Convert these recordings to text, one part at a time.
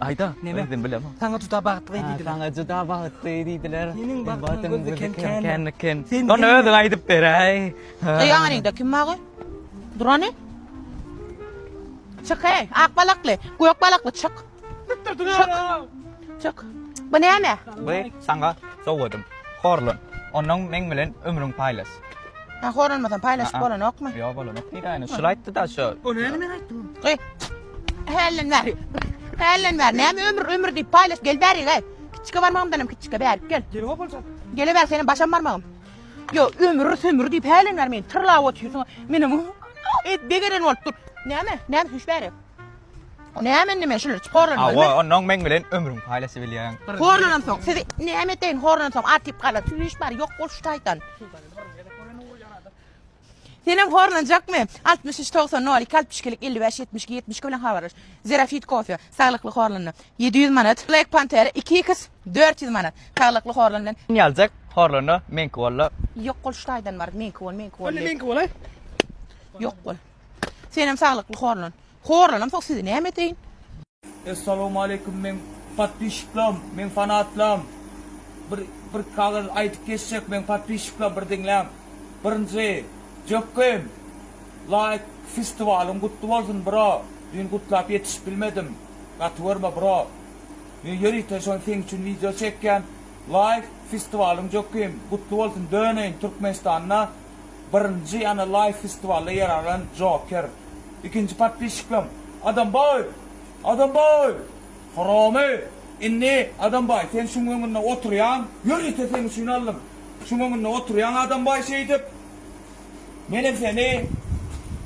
Aýda, neme? Özüm bilemok. Saňa juda bagtly diýdiler. Saňa juda bagtly diýdiler. Seniň bagtyň gözü kem-kem. Kem. Onda özüň aýdyp beräý. Eý, aňyňda kim bagy? Durany? Çyk, eý, ak balakly, gök balakly, çyk. Çyk. Çyk. Bu näme? Bu saňa sowgadym. Horlan. Ondan meň bilen ömrüň paýlaş. Ha, horlanmasan paýlaşyp bolanokmy? Ýok, bolanok. Nirä, şul aýtdy-da, şul. O näme men aýtdym? Eý, Hälden bäri. Hälden bäri. Näme ömür ömür diýip paýlaş gel bäri gel. Kiçike barmagymdan hem kiçike bäri gel. Gelip opuljak. Gele bäri senem başam barmagym. Yo ömür sömür diýip hälden bäri meni tyrlap otyrsyň. Menem et begeren bolup dur. Näme? Näme süýş bäri? O näme indi men şular çiporlan. Awa ondan meň bilen ömrüň paýlaşyp bilýän. Horlanam soň. Sizi näme edeýin horlanam soň atyp galar. Süýş bäri ýok bol şu taýdan. Senem horlanjakmy? Altmyş üç togsan nol iki altmyş ikilik elli bäş ýetmiş iki ýetmiş iki bilen habarlaş. Zerafit kofe, saglykly horlanma, ýedi ýüz manat, Black Panther iki X dört ýüz manat, saglykly horlan bilen. Sen ýaljak horlana meňki bolla. Ýok bol şu taýdan bar, meňki bol, meňki bol. Onda meňki bolaý. Ýok bol. Senem saglykly horlan. Horlanam soň sizi näme edeýin? Essalawmaleýkum meň podpisçiklam meň fanatlam bir bir kagaz aýdyp geçjek meň podpisçiklam bir diňläň birinji jökkem laýk festiwalyň gutly bolsun bro düýn gutlap ýetişip bilmedim gaty görme bro men ýörite şony seň üçin wideo çekýän laýk festiwalyň jökkem gutly bolsun döneýin türkmenistanda Birinji ýana laýw festiwalda ýer alan Joker. Ikinji podpisçikleň Adambaý! Adambaý! Horomy! Indi Adambaý sen şuň öňünde oturýaň, ýörite seň üçin aldym. Şuň öňünde oturýaň Adambaý şeýdip. Menem seni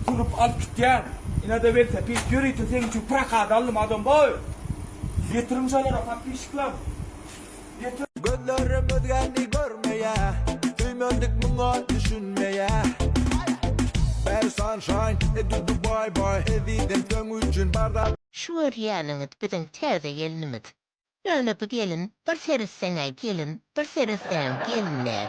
turup alyp gitýän. Inada welosiped ýörite seň üçin prokata aldym Adambaý! Ýetiriň şolara podpisçikleň. Gözlerim özgäni görmeýä Söýmezdik muňa düşünmeýä Bäri sunshine e dudu bye bye Ezizim söň üçin bar zat Şu görýäniňiz biziň täze gelnimiz. Ýöne bu gelin bir seretseň-ä gelin, bir seretseňem gelin däl.